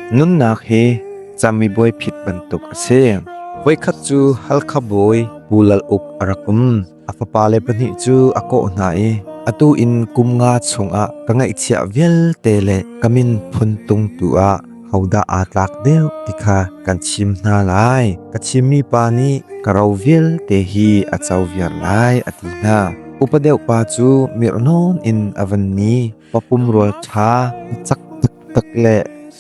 Nunnak hi camibuai phit bantuk a si. Voikhat cu Halkha bawi Pu Lal Uk a rak um. A fapale pahnih cu a kawh hna i atu in kum nga chungah ka ngaihchiah vialte le ka min phun tung tu ah hodah aa tlak deuh ti kha kan chim hna lai. Ka chimmi pa nih ka ro vialte hi a co viar lai a ti hna. Upa deuh pa cu mirh nawn in a van ni papum rual ṭha cak tak le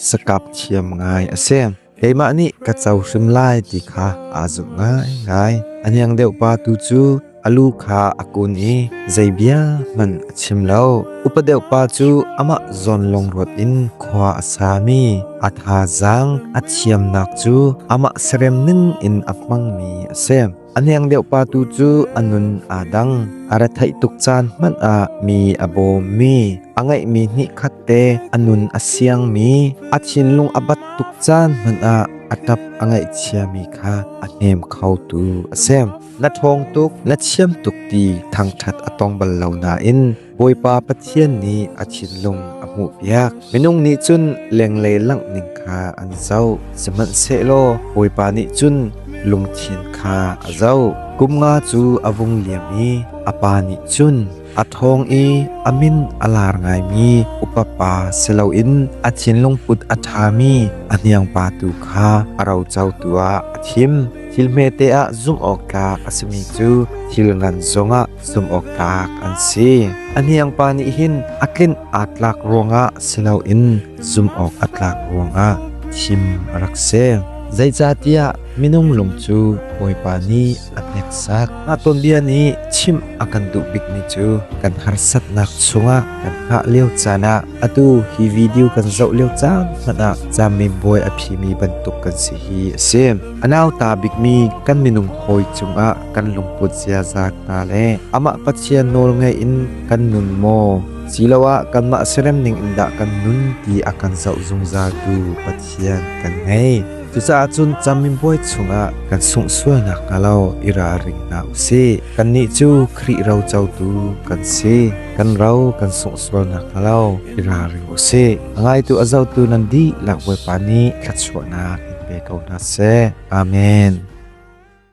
sakap thiam ngai a si. Keimah nih ka co hrim lai ti kha aa zumh ngaingai. A niang deuh pa tu cu a lu kha a kun i zei bia hmanh a chim lo. Upa deuh pa cu amah zawn lungruat in khua a sami a thazaang a thiamnak cu amah serem ning in a hmangmi a si. A hniang deuh pa tu cu a nun aa dang. A retheih tuk caan hmanh ah mi a bawmmi, a ngeihmi hnih khat te a nun a siangmi, a thinlung a bat tuk caan hmanh ah a ṭap a ngaihchiami kha a hnem khotu a si. Na ṭhawng tuk, na chiam tuk ti thangṭhat a tong bal lo nain Bawipa Pathian nih a thinlung a hmuhpiak. Minung nih cun lenglei langh ning kha an zoh, sihmanhsehlaw Bawipa nih cun lungthin kha a zoh. Kum nga cu a vung liam i a pa nih cun a ṭhawng i a min a lar ngaimi upapa si loin a thinlung put a ṭhami a hniangpa tu kha a rocotu ah a thim. Thil hmete ah zumh awk tlak a simi cu thil ngan zongah zumhawktlak an si. A hniangpa nih hin a tlinh aa tlak ruangah si loin zumhawk a tlak ruangah thim a rak si. Zeicahtiah minung lung cu Bawipa nih a hneksak. Mah tuanbia nih chimh a kan duh bikmi cu kan harsatnak chungah kan hngah lio caan ah atu hi video kan zoh lio caan hmanh ah camin bawi a phimi bantuk kan si hi a si. A nauta bikmi kan minung hawi cungah kan lungput ziaza hna le amah Pathian nawl ngei in kan nun maw siloah kanmah serem ning in dah kan nun ti a kan zoh zungzaltu Pathian kan ngei cucaah cun camin buai chungah kan sungsualnak hna lo i ralring hna u si kannih cu Khrih ro cotu kan si kan ro kan sungsualnak hna lo i ralring u si ngaitu a zotu nan di lak bawipa nih thluachuahnak in pe ko hna seh amen